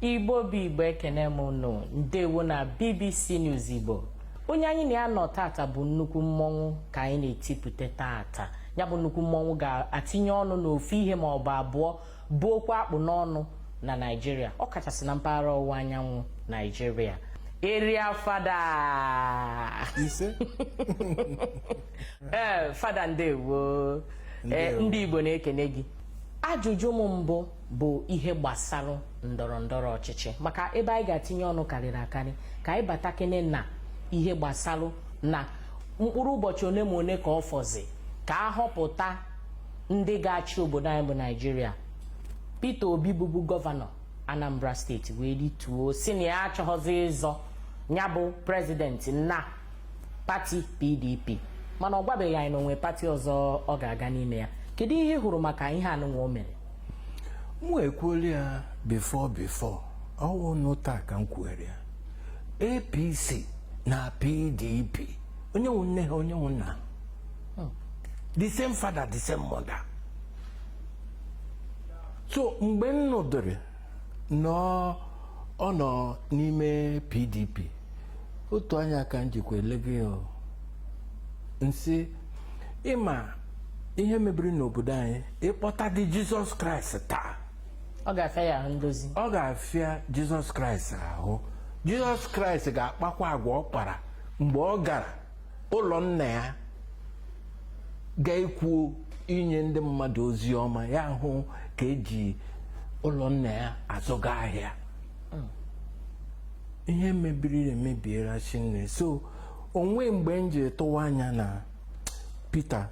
igbo bụ igbo ekene m nụ ndewo na bbc news igbo onye anyị na ya nọ tata bụ nnukwu mmọnwụ ka anyị na-etipụta tata ya bụ nnukwu mmọnwụ ga-atinye ọnụ n'ofu ihe ma ọ bụ abụọ bụ okwu a kpụ n'ọnụ na naijiria ọ kachasị na mpaghara ọwụwa anyanwụ naijiria area fada ise ee eh, fada ndewo eh, ndị igbo na-ekene gị ajụjụ m mbụ bụ ihe gbasara ndọrọ ndọrọ ọchịchị maka ebe anyị ga-atinye ọnụ karịrị akarị ka anyị batakene na ihe gbasara na mkpụrụ ụbọchị ole ma ole ka ọ fọzi ka a họpụta ndị ga-achị obodo anyị bụ naijiria Peter Obi bụbu gọvanọ Anambra steeti wee rituo sị na ya achọghọzi ịzọ ya bụ prezidenti na pati PDP mana ọ gwabeghị anyị na o nwe pati ọzọ ọ ga-aga n'ime ya kedu ihe ị hụrụ maka ihe anụnwa o mere mụ ekwuola ya before before ọ wụnụ taa ka m kwuere ya apc na pdp onye nwe nne ha onye nwe nna ha hmm. the same father the same mother so mgbe m nụdịrị na ọ nọ n'ime pdp otu anya ka m jikwa elega ya m sị ị ma ihe mebiri n'obodo anyị ị kpọtadị jizọs kraịst taa ọ ga-afịa ya ahụ ndozi ọ ga-afịa jizọs kraịst ahụ jizọs kraịst ga-akpakwa agwa ọ kpara mgbe ọ gara ụlọ nna ya ga-ekwu inye ndị mmadụ ozi ọma ya hụ ka e ji ụlọ nna ya azụga ahịa hmm. ihe mebiri emebiela shinne so o nweghị mgbe m ji tụwa anya na Peter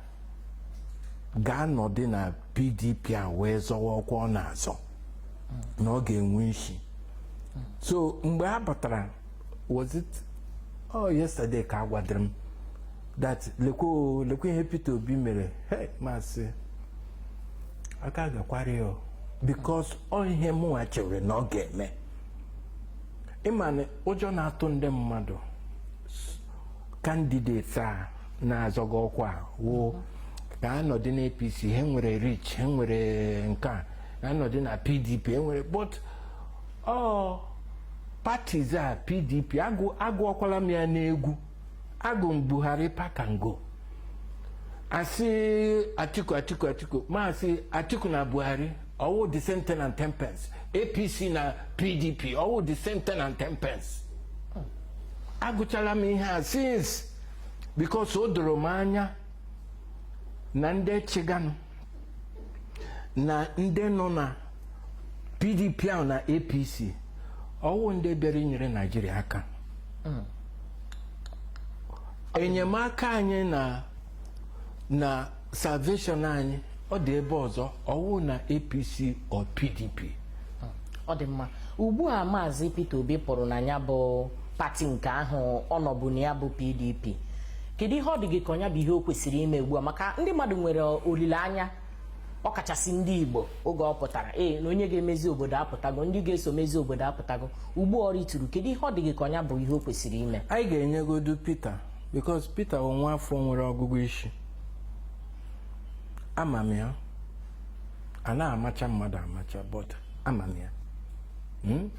ga-anọdị na PDP a wee zọwa ọkwa ọ na-azọ na ọ ga-enwe isi so mgbe a batara was it oh yesterday ka a gwadịrị m that lekwe lekwe ihe Peter Obi mere hey m asị aka gakwara ya because ọ ihe mụnwa chere na ọ ga-eme ị ma na ụjọ na-atụ ndị mmadụ candidates a na-azọga ọkwa wụ ka anọdị na APC ha nwere rich ha nwere nke a nọdị na PDP e nwere but ọ parties a PDP agụọkwala m ya n'egwu agụ m Buhari pack and go a sị Atiku Atiku Atiku m asị Atiku na Buhari ọwụ the same ten and ten pence apc na pdp ọwụ the same ten and ten pence agụchala m ihe a since because o doro m anya na ndị chịganụ na ndị nọ na pdp ahụ na apc ọwụ ndị bịara inyere naijiria aka hmm. enyemaka anyị na na salvation anyị ọ dị ebe ọzọ ọwụ na apc or pdp ọ dị mma ugbu a maazị Peter Obi pụrụ na ya bụ pati nke ahụ ọ nọbu na ya bụ pdp kedu ihe ọ dị gị ka ọ nya bụ ihe o kwesịrị ime ugbu a maka ndị mmadụ nwere olileanya ọkachasị ndị Igbo oge ọ pụtara ee na onye ga-emezi obodo apụtago ndị ga-eso mezi obodo apụtago ugbu ọ rituru kedu ihe ọ dị gị ka ọ nya bụ ihe o kwesịrị ime anyị ga-enyegodu Peter because Peter ọ nwa afọ nwere ọgụgụ isi ama m ya a na-amacha mmadụ amacha but ama m ya hmm?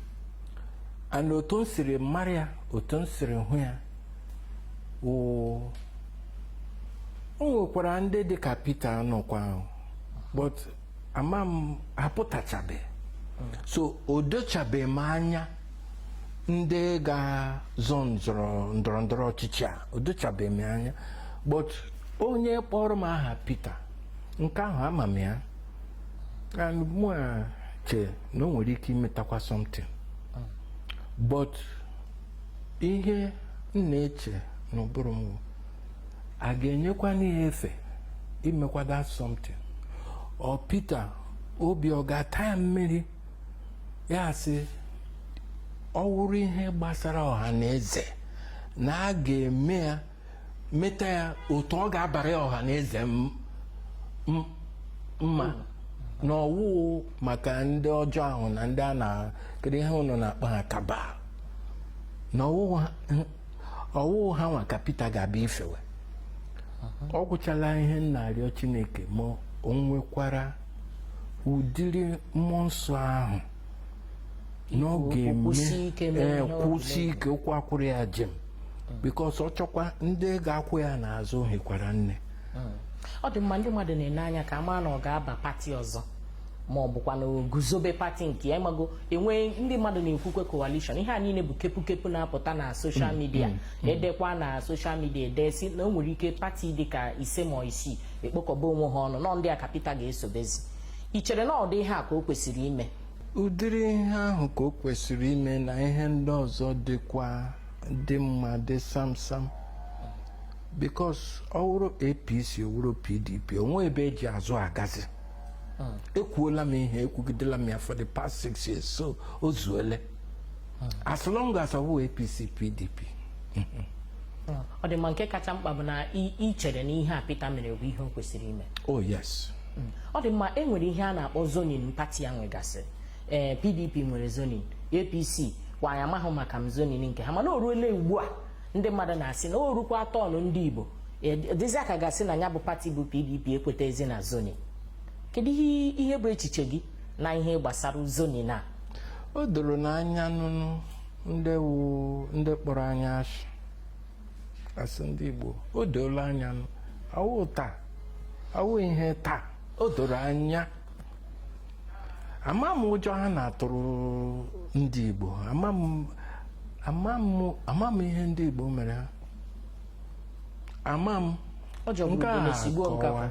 and otu m siri mara ya otu m siri hụ ya o nwekwara ndị dị ka Peter nọkwa ahụ but ama m ha apụtachabe so o dochabe m anya ndị ga-azọ ndọrọ ndọrọ ọchịchị a o dochabe m anya but onye kpọrọ m aha Peter nke ahụ ama m ya and mụwa che na o nwere ike imetakwa something but ihe m na-eche n'ụbụrụ m bụ, a ga-enyekwanị ya efe imekwa that something ọ Peter Obi ọ ga-ata ya mmiri ya sị ọ wụrụ ihe gbasara ọha na eze na a ga-eme ya meta ya otu ọ ga-abara ya ọha na eze m- m- mma na ọwụ maka ndị ọjọọ ahụ na ndị a na kedu ihe ụnụ na-akpọ ha cabal na ọwụ ha- ọwụ ha nwa ka Peter ga-abịa ifewe ọ gwụchala ihe m na-arịọ Chineke ma o nwekwara ụdịrị mmụọ nsọ ahụ na ọ ga-eme kwụsie ike ụkwụ akwụrụ ya jem because ọ chọkwa ndị ga-akwụ ya n'azụ hikwara nne hmm. ọ dị mma ndị mmadụ na-ene anya ka a ma na ọ ga-aba pati ọzọ ma ọ bụkwa na o guzobe pati nke ya ị mago e nwe ndị mmadụ na-ekwukwe coalition ihe a niile bụ kepukepu na-apụta na social media hmm. Hmm. e dekwa na social media e de sị na o nwere ike pati dịka ise ma isii ekpokọba onwe ha ọnụ na ọ ndị a ka Pita ga-esobezi i chere na ụdị ihe a ka o kwesịrị ime ụdịrị ihe ahụ ka o kwesịrị ime na ihe ndị ọzọ dịkwa dị mma dị samsam because ọ wụrụ apc ọ wụrụ pdp o nweghị ebe e ji azụ agazi ekwuola m ihe ekwugidela m ya for the past six years so o zuole as long as ọ wụ APC PDP ọ dị mma nke kacha mkpa bụ na i i chere na ihe a Peter mere bụ ihe o kwesịrị ime oh yes ọ dị mma e nwere ihe a na-akpọ zoning pati ya nwegasịrị ee pdp nwere zoning apc kwa anyị amaghị maka m zoning nke ha mana o ruola ugbu a ndị mmadụ na-asị na o rukwara turn ndị igbo ọ dịzịa ka a ga-asị na ya bụ pati bụ pdp ekwetaghịzi na zoning kedu ihe ihe bụ echiche gị na ihe gbasara zoning na o doro na anya nụnụ ndị wu ndị kpọrọ anyị asị asị ndị Igbo o doola anya nụ awụ taa awụ ihe taa o doro anya ama m ụjọ ha na-atụrụ ndị Igbo ama m ama m ama m ihe ndị Igbo mere ha ama m ọ jọgburu nke a ugboro sigbuo nkakwa akọwa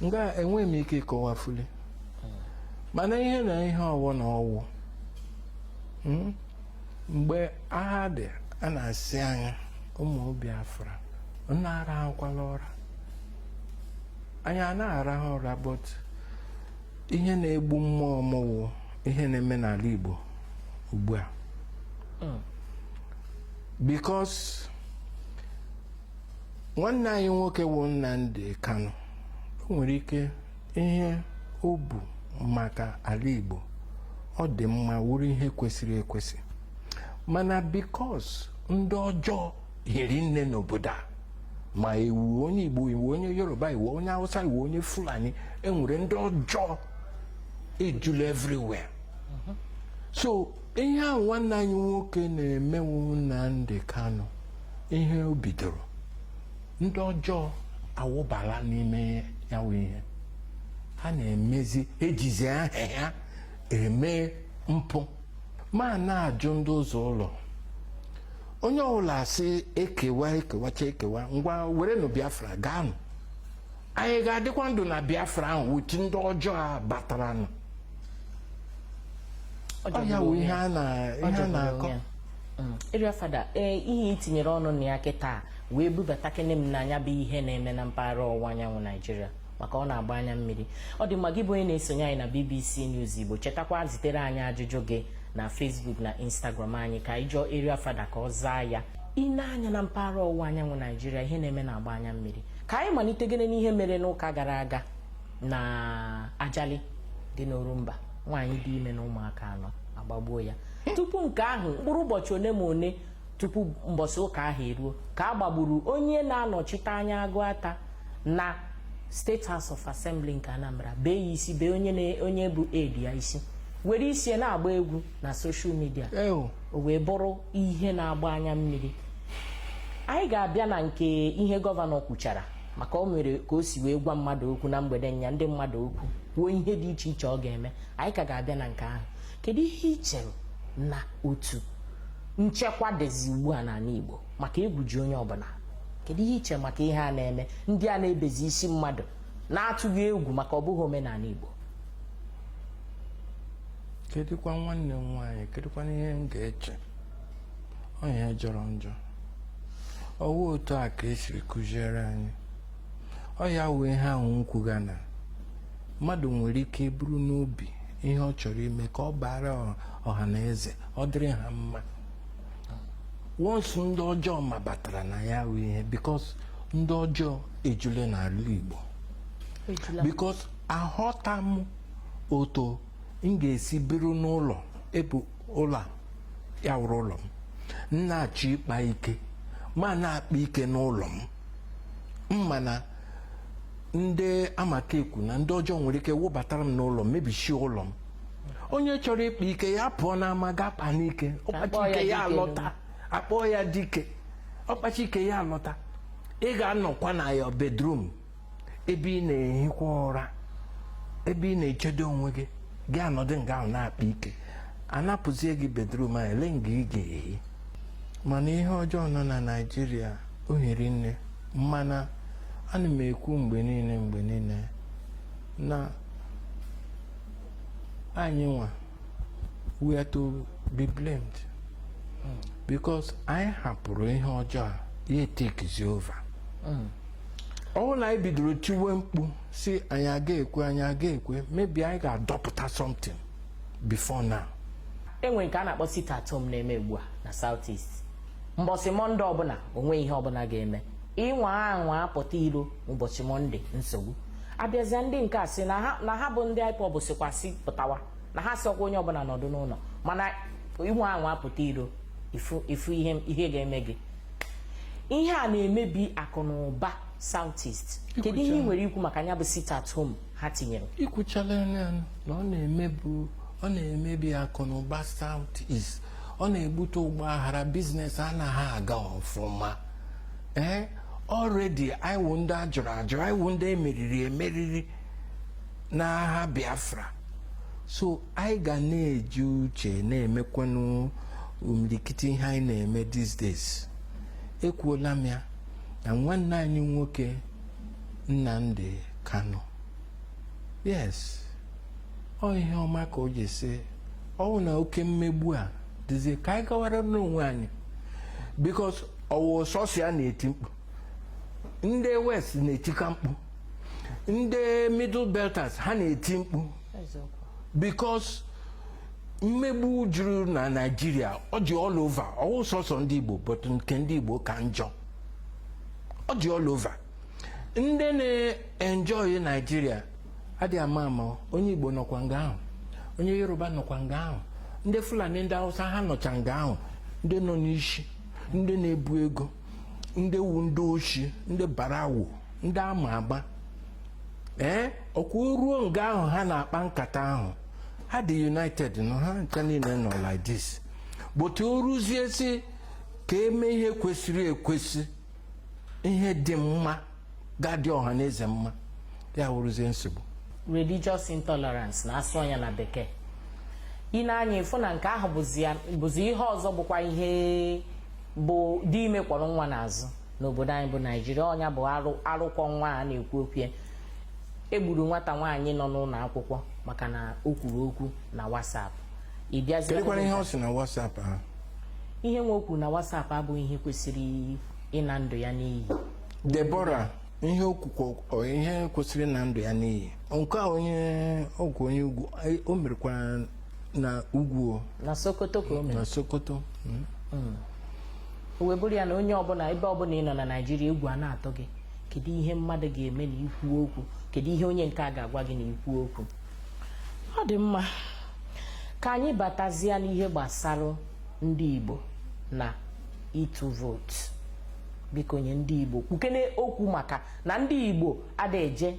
nga enweghị m ike ịkọwafuli mana ihe na ihe ọ wụ na ọ wụ mm, mgbe agha dị a na-asị anyị ụmụ Biafra ụnụ arahụkwala ụra anyị a na-arahụ ụra but ihe na-egbu mmụọ m wụ ihe na-eme n'ala Igbo ugbu a mm. because nwanne anyị nwoke wụ Nnamdi Kanu o nwere ike ihe o bu maka ala Igbo ọ dị mma wụrụ ihe kwesịrị ekwesị mana because ndị ọjọọ hiri nne n'obodo a ma ị wụ onye Igbo ị wụ onye Yoruba ị wụ onye Hausa ị wụ onye Fulani e nwere ndị ọjọọ ejula everywhere so ihe ahụ nwanne anyị nwoke na-eme wụ Nnamdi Kanu ihe o bidoro ndị ọjọọ awụbala n'ime ya wụ ihe ha na-emezi ejizi aha ya eme mpụ ma na-ajụ ndị ụzọ ụlọ onye ọbụla asị e kewa e kewacha ekewa ngwa werenụ Biafra gaanụ anyị ga-adịkwa ndụ na biafra ahụ with ndị ọjọọ a bataranụ ọ ya wụ ihe a na-akọ Area mm. Fada ee ihe i tinyere ọnụ na ya kịtaa wee bubata kene m n'anya bụ ihe na-eme na mpaghara ọwụwa anyanwụ naijiria maka ọ na-agba anya mmiri ọ dị mma gị bụ onye na-esonye anyị na bbc news igbo chetakwa zitere anyị ajụjụ gị na facebook na instagram anyị ka anyị jụọ Area Fada ka ọ zaa ya i nee anya na mpaghara ọwụwa anyanwụ naijiria ihe na-eme na-agba anya mmiri ka anyị malitegodi n'ihe mere n'ụka gara aga na ajali dị n'orumba nwaanyị dị ime na ụmụaka anọ agbagbuo ya tupu nke ahụ mkpụrụ ụbọchị ole ma ole tupu mbọsị ụka ahụ eruo ka a gbagburu onye na-anọchite anya agụata na state house of assembly nke anambra bee ya isi bee onye bụ aide ya isi were isi na-agba egwu na social media o wee bụrụ ihe na-agba anya mmiri anyị ga-abịa na nke ihe gọvanọ kwuchara maka o mere ka o si wee gwa mmadụ okwu na mgbede nnyaa ndị mmadụ okwu kwuo ihe dị iche iche ọ ga-eme anyị ka ga-abịa na nke ahụ kedu ihe ị chere na otu nchekwa dịzi ugbu a n'ala Igbo maka egwu ji onye ọbụla kedu ihe i che maka ihe a na-eme ndị a na-ebezi isi mmadụ na-atụghị egwu maka ọ bụghị omenala Igbo kedụkwa nwanne m nwaanyị kedụkwa ihe m ga-eche ọ ihe jọrọ njọ ọwụ otu a ka esiri kụziere anyị ọ ya wụ ihe ahụ m kwuga na mmadụ nwere ike buru n'obi ihe ọ chọrọ ime ka ọ baara ọha na eze ọ dịrị ha mma once ndị ọjọọ mabatara na ya wụ ihe because ndị ọjọọ ejule n'ala Igbo because aghọta m otu m ga-esi biri n'ụlọ ebe ụlọ a ya wụrụ ụlọ m m na-achọ ịkpa ike m ana-akpa ike n'ụlọ m m ma na ndị a m ka ekwu na ndị ọjọọ nwere ike wụbatara m n'ụlọ m mebichie ụlọ m onye chọrọ ịkpa ike ya pụọ n'ama gaa kpaa n'ike ọ kpacha ike ya alọta akpọọ ya dike ọ kpacha ike ya alọta ị ga-anọkwa na your bedroom ebe ị na-ehikwa ụra ebe ị na-echedo onwe gị gị anọdụ nga ahụ na-akpa ike anapụzie gị bedroom a elee nga ị ga-ehi mana ihe ọjọọ nọ na naijiria o hiri nne mana ana m ekwu mgbe niile mgbe niile na anyị nwa we are to be blamed because anyị hapụrụ ihe ọjọọ a ya etekizi over ọwụ na anyị bidoro tiwe mkpu sị anyị aga ekwe anyị aga ekwe maybe anyị ga-adọpụta something before now enwe nke a na-akpọ sit at home na-eme ugbu a na South East mbọsị mọnde ọbụla onwe ihe ọbụla ga-eme ị nwaa anwa apụta iro ụbọchị mọnde nsogbu abịazia ndị nke a sị na ha bụ ndị IPOB sịkwa sị pụtawa na ha sịrọkwa onye ọbụla nọdụ n'ụlọ mana ị nwaa anwa apụta iro ị fụ ihe ga-eme gị ihe a na-emebi akụ na ụba Southeast kedu ihe ị nwere ikwu maka ya bụ sit at home ha tinyere i kwuchala ya na ọ na-emebi ọ na-emebi akụ na ụba Southeast ọ na-ebute ọgba aghara business anaghị aga ọfụma ee eh, already anyị wụ ndị a jụrụ ajụ anyị wụ ndị emeriri emeriri n'agha Biafra so anyị ga na-eji uche na-emekwanụ imilikiti ihe anyị na-eme these days ekwuola m ya na nwanne anyị nwoke Nnamdi Kanu yes ọ ihe ọma ka o ji sị ọ wụ na oke mmegbu a dịzie ka anyị gawara n'onwe anyị because ọ wụghị sọsọ ya na-eti mkpu ndị west na-etikwa mkpu ndị middle belters ha na-eti mkpu because mmegbu juru na naijiria ọ dị all over ọ wụghị sọsọ ndị igbo but nke ndị igbo ka njọ ọ dị all over ndị na-enjoy naijiria adịghị ama ama onye igbo nọkwa nga ahụ onye yoruba nọkwa nga ahụ ndị fulani ndị hausa ha nọcha nga ahụ ndị nọ n'isi ndị na-ebu ego ndị wụ ndị oshi ndị barawo ndị ama agba ee ọ kwa o ruo nga ahụ ha na-akpa nkata ahụ ha dị united nọ ha ncha niile nọ like this but o ruzie sị ka e mee ihe kwesịrị ekwesị ihe dị mma ga-adị ọha na eze mma ya wụrụzie nsogbu religious intolerance na a sụọ nya na bekee i nee anya ị fụ na nke ahụ bụzi ihe ọzọ bụkwa ihe bụ dị ime kwọrọ nwa n'azụ n'obodo anyị bụ naijiria ọ nya bụ arụ arụ kwọ nwa a na-ekwu okwu ya e gburu nwata nwaanyị nọ n'ụlọ akwụkwọ maka na o kwuru okwu na WhatsApp ị bịazie kedụkwanụ ihe ọ sị na WhatsApp ha ihe nwa ahụ kwuru na WhatsApp abụghị ihe kwesịrị ịna ndụ ya n'iyi Deborah ihe o kwuru ọ ihe kwesịrị ịna ndụ ya n'iyi nke a onye ugwu onye ugwu anyị- o merekwara na ugwu o, na sokoto ka o mere na sokoto mm. Mm. o wee bụrụ ya na onye ọbụla ebe ọbụla ị nọ na naijiria egwu a na-atụ gị kedu ihe mmadụ ga-eme na i kwuo okwu kedu ihe onye nke a ga-agwa gị na i kwuo okwu ọ dị mma ka anyị batazie n'ihe gbasara ndị igbo na ịtụ vootu biko nye ndị igbo kwukene okwu maka na ndị igbo ada eje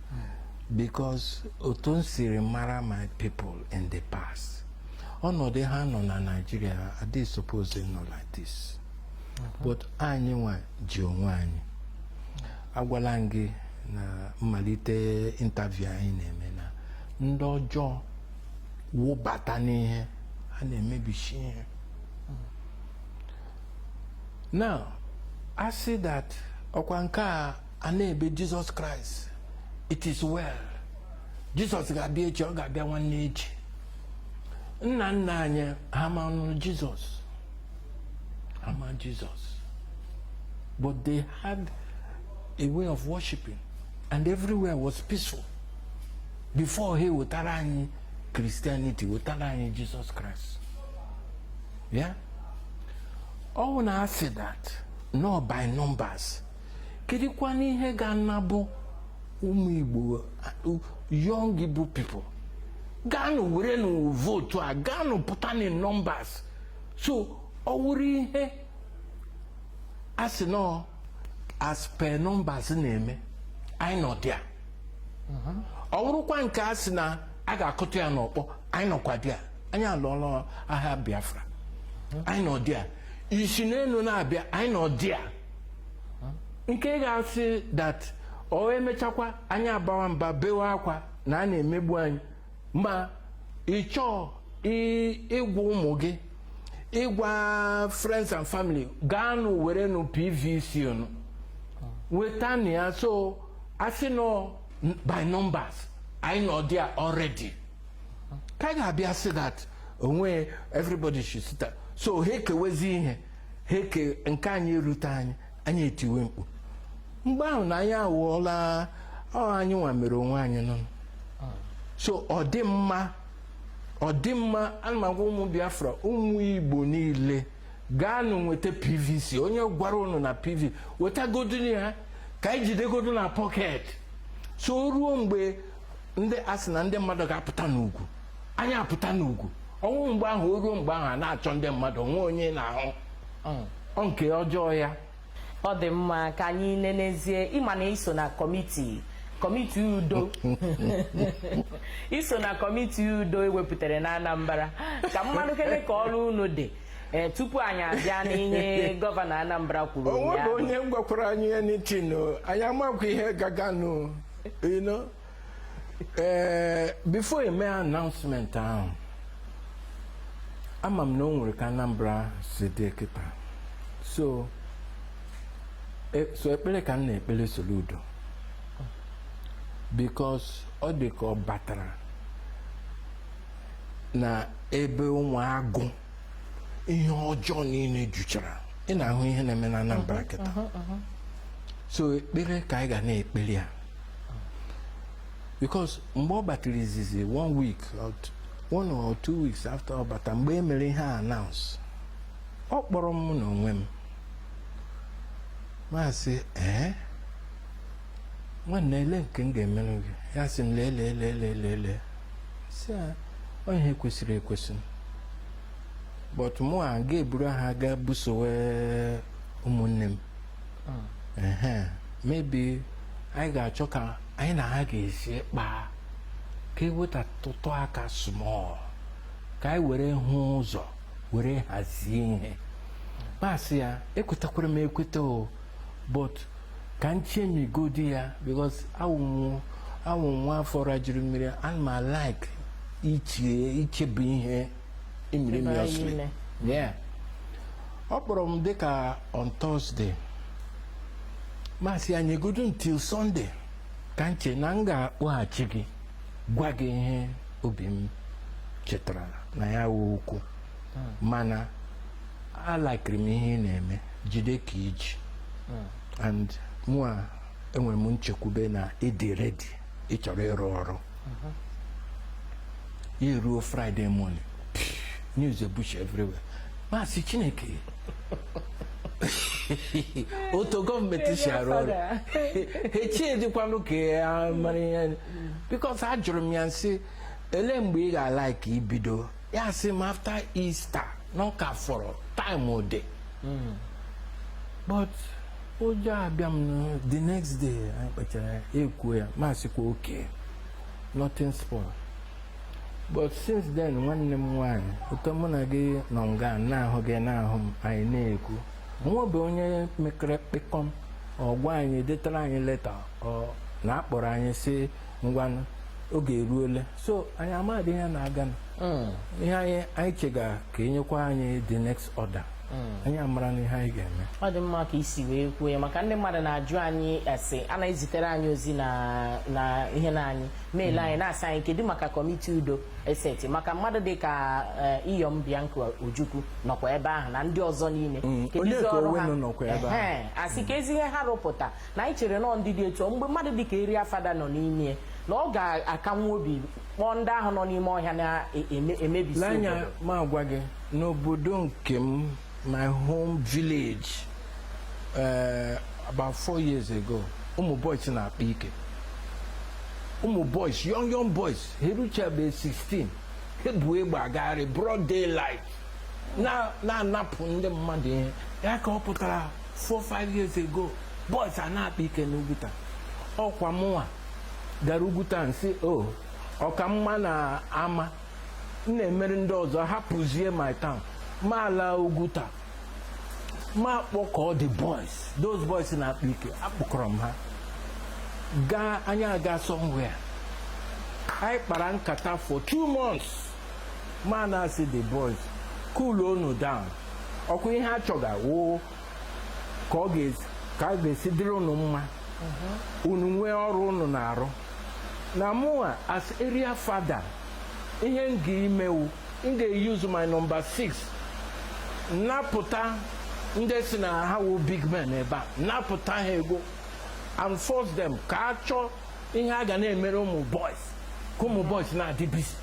because otu m siri mara my people in the past ọnọdụ ha nọ na Nigeria adịghị suppose nọ like this but anyị nwa ji onwe anyị agwala m gị na mmalite interview anyị na-eme na ndị ọjọọ wụbata n'ihe ha na-emebishi ihe now a sị that ọkwa nke a a na-ebe Jesus Christ it is well Jesus ga-abịa echi ọ ga-abịa nwanne echi nna nna anyị ha ma nụrụ Jesus ha ma Jesus but they had a way of worshiping and everywhere was peaceful before ha ewetara anyị christianity wetara anyị Jesus Christ ya ọ wụ na a sị that nọ by numbers kedụkwana ihe ga-anabụ ụmụ igbo young igbo people gaanụ werenụ vootu a gaanụ pụta na numbers so ọ wụrụ ihe a sị nọ as per numbers na-eme anyị nọ there ọ wụrụkwa nke a sị na a ga-akụta ya n'ọkpọ anyị nọkwa there anyị alụọla agha biafra anyị nọ there i si n'elu na-abịa anyị nọ there nke ga-asị that o emechakwa anyị abawa mba bewe akwa na a na-emegbu anyị ma ị chọọ ịgwa ụmụ gị ịgwa friends and family gaanụ werenụ pvc unu wetanụ ya so a sị nọ by numbers anyị nọ there already ka ga-abịa sị that onwe everybody should sit so ha ekewezi ihe ha eke nke anyị erute anyị anyị etiwe mkpu mgbe ahụ na anyị anwụọla ọ anyị nwa mere onwe anyị nọ so ọ dị mma ọ dị mma ana m agwa ụmụ biafra ụmụ igbo niile gaanụ nweta pvc onye gwara ụnụ na pv wetagodunụ ya ka anyị jidegodu na pocket so o ruo mgbe ndị a sị na ndị mmadụ ga-apụta n'ugwu anyị apụta n'ugwu ọ wụ mgbe ahụ o ruo mgbe ahụ a na-achọ ndị mmadụ o nwe onye a na-ahụ mm. ọ nke ọjọọ ya ọ dị mma ka anyị nenezie ị ma na i so na kọmiti kọmiti udo i so na kọmiti udo e wepụtara na Anambra ka m manụ kene ka ọrụ unu dị ee eh, tupu anyị abịa n'ihe gọvanọ Anambra kwuru onwe bụ onye gwakwara anyị ya n'itinụ anyị amakwa ihe gaganụ you know eh, before e mee announcement ahụ ama m na o nwere ka Anambra si dị kịta so e, so ekpere ka m na-ekpere Soludo because ọ dị ka ọ batara na ebe ụmụ agụ ihe ọjọọ niile juchara ị na-ahụ ihe na-eme na Anambra mhm, kịta mhm, mhm. so ekpere ka anyị ga na-ekpere ya because mgbe ọ batara izizi one week one or two weeks after ọ bata mgbe e mere ihe a announce ọ kpọrọ m n'onwe m m asị ee eh? nwanne ele nke m ga-emere gị ya sị m lee lee lee lee lee lee sị ya ọ ihe kwesịrị ekwesị but mụwa ga-eburu agha gaa busowe ụmụnne m ehe maybe anyị ga-achọ ka anyị na ha ga-esi kpaa ka e wetatụtụ aka small ka anyị were hụ ụzọ were hazie ihe m asị ya ekwetakwara m ekweta o but ka m chemigodi ya because awụ m awụ m nwa afọ rajuru mmiri ana m alike iche ichebe ihe imiri Chebe anyị mịọsịrị ime. yeah ọ kpọrọ m dịka on Thursday m asị ya nyegodu until Sunday ka m che na m ga-akpọghachi gị gwa gị ihe obi m chetara na ya wụ okwu mana alikeri m ihe ị na-eme jide ka i ji and mụa enwere m nchekwube na ị dị ready ị chọrọ ịrụ ọrụ ya eruo Friday morning news ebuchie everywhere m asị chineke otu gọọmenti si arụ ọrụ echie dịkwanụ ka ya mara ihe because ajụrụ m ya m sị ele mgbe ị ga-alike ibido ya sị m after Easter na ọ ka fọrọ time ode hmm. but ụjọ abịa m the next day anyị kpachara ekwuo ya m asịkwa okay nothing spoil but since then nwanne m nwaanyị otu mụ na gị nọ nga na-ahụ gị na-ahụ m anyị na-ekwu o nwebe onye mekere kpịkọm ọ gwa anyị detara anyị leta na a kpọrọ anyị sị ngwanụ oge eruole so anyị amadị ihe na-aganụ. ihe anyị anyị chega ka e nyekwa anyị the next order anyị amara na ihe anyị ga-eme ọ dị mma ka i si wee kwuo ya maka ndị mmadụ na-ajụ anyị ese a na-ezitere anyị ozi na na ihe na email anyị na-asị anyị kedu maka committee udo e seti maka mmadụ dị ka eh, Iyom Bianca Ojukwu nọkwa ebe ahụ na ndị ọzọ niile Kedu Onyeka izi ọrụ ha? Onwenu nọkwa ebe ahụ. Ehe, a sị ka ezi ihe ha rụpụta na anyị chere nọọ ndị dị etu ọ mgbe mmadụ dịka eria fada nọ n'ime ya, na ọ ga-akanwu obi kpọọ ndị ahụ nọ n'ime ọhịa na-emebisi lee anya obodo m agwa gị n'obodo nke m my home village eh, about four years ago ụmụ boys na-akpa ike ụmụ boys young young boys ha eruchabeghị 16 ha bu egbe agagharị broad daylight na- na-anapụ ndị mmadụ ihe ha kọpụtara four five years ago boys a na-akpa ike n'Uguta ọkwa mụnwa gara Uguta m sị o ọ ka mma na ama m na-emere ndị ọzọ hapụzie my town m alaa Uguta m akpọkọọ the boys those boys na-akpa ike akpọkọrọ m ha gaa anyị agaa somewhere anyị kpara nkata for two months m ana-asị the boys cool unu down ọkwa ihe a chọga wụ ka ọ ga-esi ka ọ ga-esi dịrị unu mma unu nwee ọrụ unu na-arụ na mụnwa as area fada ihe m ga-ime wụ m ga-use my number 6 napụta ndị si na ha wụ big men ebe a napụta ha ego and force them ka a chọọ ihe a ga na-emere ụmụ boys ka ụmụ boys na-adị busy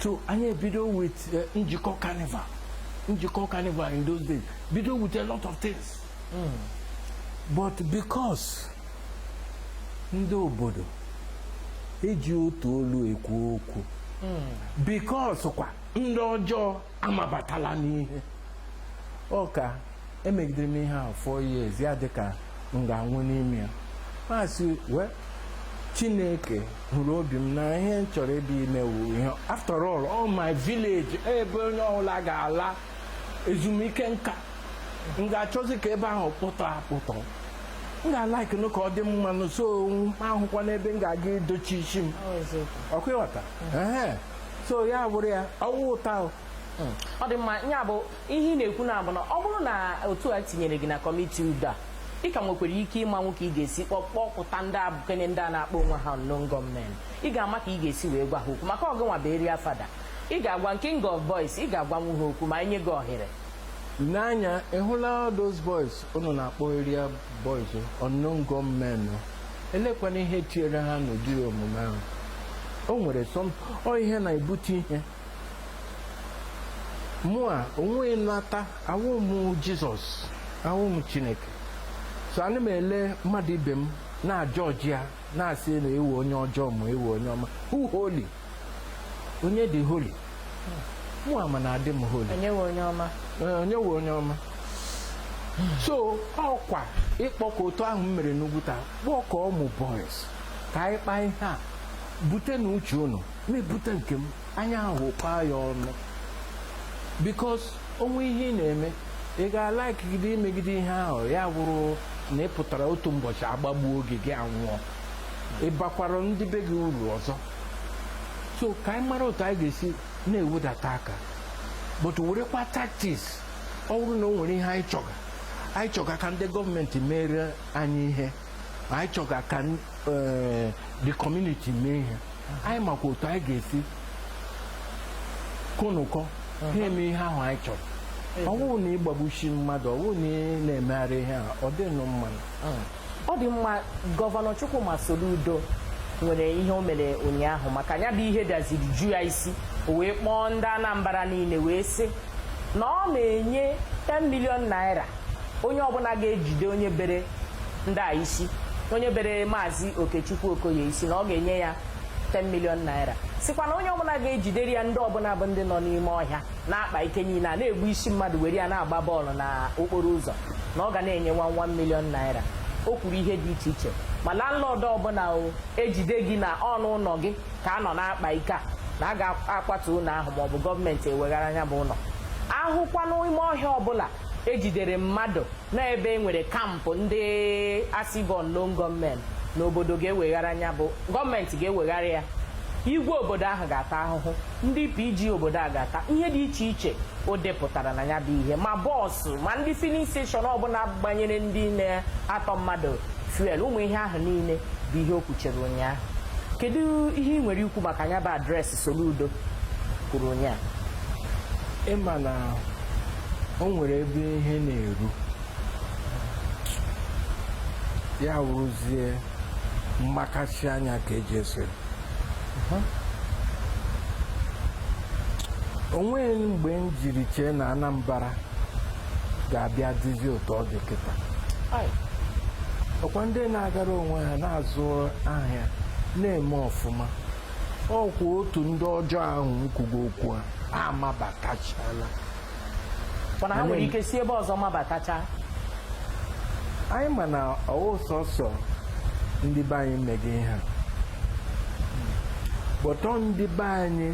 so anyị ebido with eh, njikọ carnival njikọ carnival in those days bido with a lot of things hmm. but because ndị obodo eji otu olu ekwu okwu hmm. because kwa ndị ọjọọ amabatala n'ihe ọ ka emegidere m ihe ahụ four years ya dịka m ga-anwụ n'ime ya m asị well chineke hụrụ obi m na ihe m chọrọ ebe ime wụ ihe after all ọ my village ebe onye ọbụla ga-ala ezumike nka m ga-achọzi ka ebe ahụ kpụtọ akpụtọ m ga-like nụ ka ọ dị mma nụ so ọ wụkwa n'ebe m ga-aga idochi isi m ọkwa ị ghọta so ya bụrụ ya ọ wụ otu ahụ hmm. ọ dị mma ya bụ ihe ị na-ekwu na-abụ na ọ bụrụ na otu a tinyere gị na kọmiti udo a ị ka nwekwara ike ịmanwu ka ị ga-esi kpọpụta ndị abụkenye ndị a na-akpọ onwe ha unknown gunmen ị ga-ama ka ị ga-esi wee gwa ha okwu maka ọ gịnwa bụ eria fada ị ga-agwa king of boys ị ga-agwanwu ha okwu ma e nye gị ohere lee anya ịhụla those boys unu na-akpọ eria boys unknown gunmen elekwana ihe tinyere ha n'ụdị omume ahụ o nwere some ihe na-ebute ihe mụa onwe nata awụ m jizọs awụ m chineke so ana m ele mmadụ ibe m na-ajọjị ya na-asị na ị wụ onye ọjọọ ma ị wụ onye ọma who holy onye dị holy mụ ama na adị m holy onye nwe onye ọma Ee, onye wụ onye ọma so ọkwa ịkpọkọ otu ahụ m mere n'Ugwuta kpọkọ ụmụ boys ka anyị kpaa ihe a butenụ uche unu m ebute nke m anyị ahụ kpaa ya ọnụ because o nwee ihe ị na-eme ị ga-alaikigide imegide ihe ahụ ya wụrụ na ị pụtara otu ụbọchị a gbagbuo gị gị anwụọ ị bakwara ndị be gị uru ọzọ so ka anyị mara otu anyị ga-esi na-ewedata aka but werekwa tactics ọ bụrụ na o nwere ihe anyị chọga anyị chọga ka ndị gọọmenti meere anyị ihe anyị chọga ka eh, the community mee ihe anyị makwa otu anyị ga-esi konụkọ ha uh-huh. eme ihe ahụ anyị chọga ọ bụghị na ịgbagbusi mmadụ ọ bụrụ na ị na-emegharị ihe a ọ dịghị mma uh-huh. Ọ dị mma Gọvanọ Chukwuma Soludo nwere ihe o mere ụnyaahụ maka ya bụ ihe daziri ju ya isi o wee kpọọ ndị Anambra niile wee sị na ọ na-enye 10 million naira onye ọbụla ga-ejide onye bere ndị a isi onye bere Maazị Okechukwu Okoye isi na ọ ga-enye ya 10 million naira sịkwa na onye ọbụla ga-ejidere ya ndị ọbụla bụ ndị nọ n'ime ọhịa na-akpa ike niile a na-egbu isi mmadụ were ya na-agba bọọlụ na okporo ụzọ na ọ ga na-enye one one million naira o kwuru ihe dị iche iche ma landlord ọbụla e jide gị na ọ n'ụlọ gị ka a nọ na-akpa ike a na a ga-akwatu ụlọ ahụ maọbụ gọọmenti eweghara nya bụ ụlọ a hụkwa n'ime ọhịa ọbụla e jidere mmadụ na ebe e nwere kampụ ndị a sị bụ unknown gunmen na obodo ga-eweghara nya bụ gọọmenti ga-eweghara ya igwe obodo ahụ ga-ata ahụhụ ndị PG obodo a ga-ata ihe dị iche iche o depụtara na ya bụ ihe ma bus ma ndị filling station ọbụla gbanyere ndị na-atọ mmadụ fuel ụmụ ihe ahụ niile bụ ihe o kwuchara ụnyaahụ kedu ihe ị nwere ikwu maka ya bụ address Soludo kwuru ụnyaahụ ị ma na o nwere ebe ihe na-eru ya wụrụzie mgbakasị anya ka e ji ese o nweghị mgbe m jiri chee na Anambra ga-abịa dịzi otu ọ dị kịta ọkwa ndị na-agara onwe ha na-azụ ahịa na-eme ọfụma ọkwa otu ndị ọjọọ ahụ m kwuga okwu ha amabatachala ha nwere ike si ebe ọzọ mabatacha anyị ma na ọ wụghị sọsọ ndị be anyị mega ihe a but ọ ndị be anyị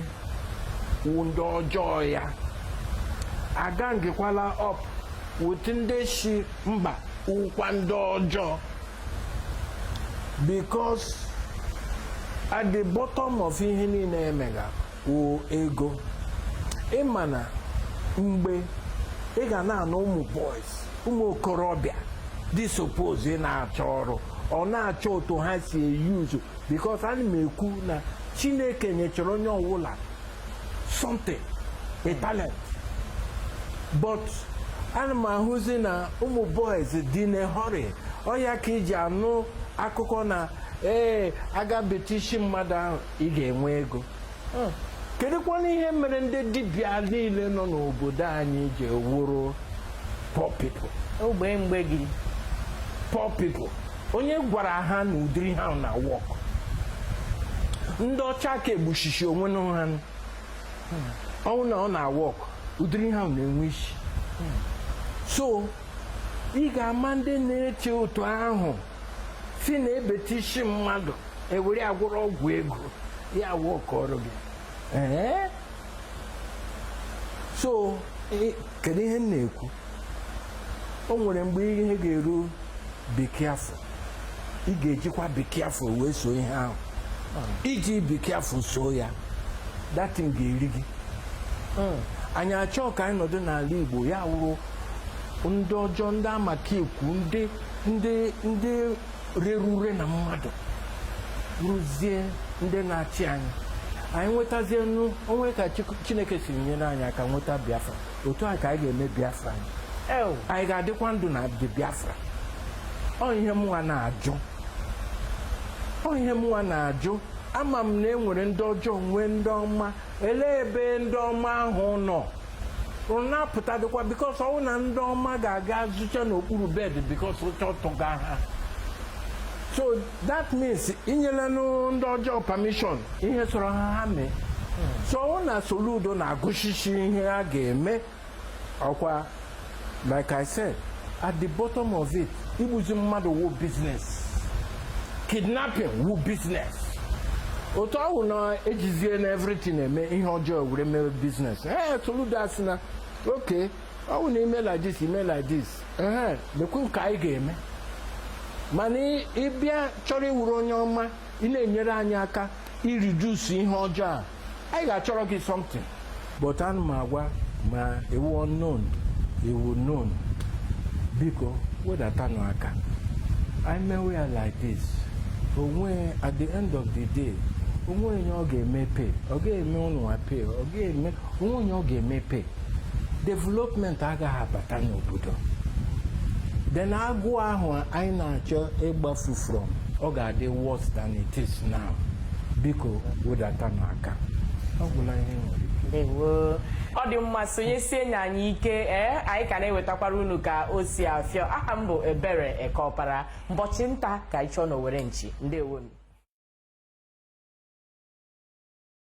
wụ ndị ọjọọ ya agangekwala up with ndị si mba wụkwa ndị ọjọọ because at the bottom of ihe niile emega wụ ego ịma na mgbe ị ga na-anụ ụmụ boys ụmụ okorobịa dị suppose ịna-achọ ọrụ ọ na-achọ otu ha si eyuzu because ana m ekwu na chineke nyechara onye ọwụla something a talent but ana m ahụzi na ụmụ boys dị na hurry ọ ya ka i ji anụ akụkọ na ee a ga-ebete isi mmadụ ahụ ị ga-enwe ego kedụkwanụ ihe mere ndị dibịa niile nọ n'obodo anyị ji wụrụ poor people ogbei mgbei poor people onye gwara ha na ụdịrị ihe ahụ na-awọk ndị ọcha aka egbusisi onwe na ha ọ wụ na ọ na-awọk ụdịrị ihe ahụ na-enwe isi so ị ga-ama ndị na-eche otu ahụ sị na ebete isi mmadụ ewere ya gwọrọ ọgwụ ego ya awọkọrọ gị ee so kedu ihe m na-ekwu o nwere mgbe ihe ga-eru be careful ị ga-ejikwa be careful wee so ihe ahụ iji be careful soo ya that thing ga-eri gị hmm. anyị achọọ ka anyị nọdụ n'ala Igbo ya wụrụ ndị ọjọọ ndị amakekwu ndị ndị ndị rere ure na mmadụ ruzie ndị na-achị anyị anyị nwetazienụ onwe ka Chik- chineke si nyere anyị aka nweta biafra otu a ka anyị ga-eme biafra anyị ew anyị ga-adịkwa ndụ na the biafra ọ ihe mụnwa na-ajụ ọ ihe mụnwa na-ajụ ama m na e nwere ndị ọjọọ nwee ndị ọma elee ebe ndị ọma ahụ nọ ụnụ na-apụtadịkwa because ọ wụ na ndị ọma ga-aga zocha n'okpuru bed because ụjọ atụga ha so that means i nyelanụ ndị ọjọọ permission ihe sọrọ ha ha mee so ọ wụ na soludo na-agụsisi ihe a ga-eme ọkwa like i said at the bottom of it igbuzi mmadụ wụ business kidnapping wụ business otu ọ wụ na ejizie na everything eme ihe ọjọọ were mere business ee soludo asị na okay ọ wụ na ime like this ime like this ee lekwa nke anyị ga-eme mana ịbịa chọrọ ịwụrụ onye ọma ị na-enyere anyị aka iridusu ihe ọjọọ a anyị ga-achọrọ gị something but ana m agwa ma ị wụ unknown ị wụ known biko wedatanụ aka anyị mewe ya like this onwe at the end of the day onwe onye ọ ga-eme pay ọ ga-eme ụnụnwa pay ọ ga-eme onwe onye ọ ga-eme pay development agaghị abata n'obodo then agụụ ahụ anyị na-achọ ịgbafu from ọ ga-adị worse than it is now. biko wedatanụ aka ọ gwụla ihe m nwere ndewo ọ dị mma sonyesie nye anyị ike ee anyị ka na-ewetakwara unu ka o si afịọ aha m bụ ebere ekeọpara mbọchị nta ka anyị chụọ n'owere nchi ndewonụ